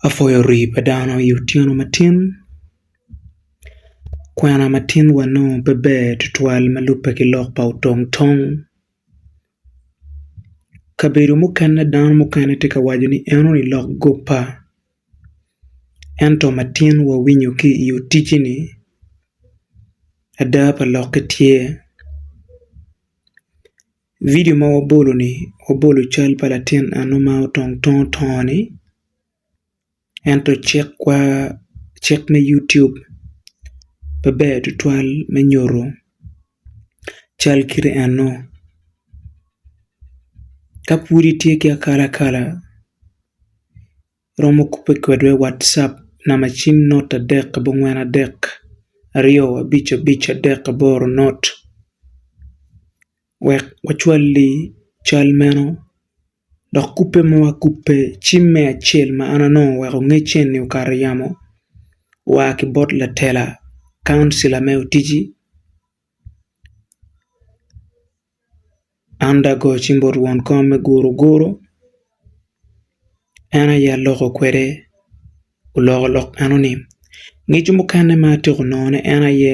apwoyo rii pa dano i otyeno matin kwena matin wa nongo pe ber tutwal ma lubbe ki lok pa otong tong kabedo mukene dano mukene tye ka waco ni en onongo olok guppa ento matin wa winyo ki i otiji ni ada pa lokke tye I vidio ma wabolo-ni, wabolo cal pa latin eno ma otong tung otongo-ni ento cikwa, cik me YouTube pe ber tutwal me nyuto cal kite eno. Ka pud itye ki akalakala, iromo kubbe kwedwa i Whatsapp namba acim nort adek abongwen adek aryo abic abic adek aboro nort. wek wacwal-li cal meno, dok kubbe ma wakubbe cim me acel ma an anongo oweko ngecce-ni okato i yamo oa ki bot latela kauncila me Utiji Anda Go ci bot won kom me Guruguru en aye aloko kwede oloko lok enoni. Ngecco mukene ma atyeko nongone en aye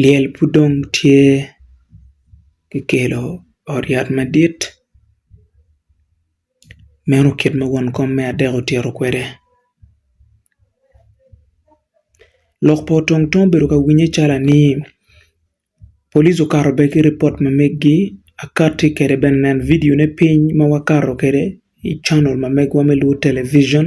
Lyel pud dong tye ki kelo ot yat madit meno kit ma won kom me adek otito kwede lok pa otong tong obedo ka winye calo anii police okato bene ki ripot ma megi akati kwede bene nen vidio ne piny ma wakato kwede i canel ma megiwa me lwod television.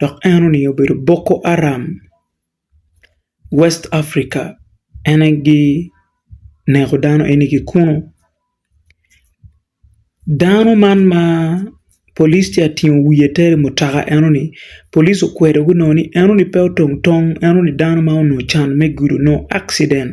dok en oningo obedo Boko Haram West Africa en aye gi neko dano eni ki kunu dano man ma polic tye ka tingo wiye ter i mutoka eno ni polic okwedo gi nongo ni eno ni pe otong tong eno ni dano ma onongo ocan me gudo nongo accident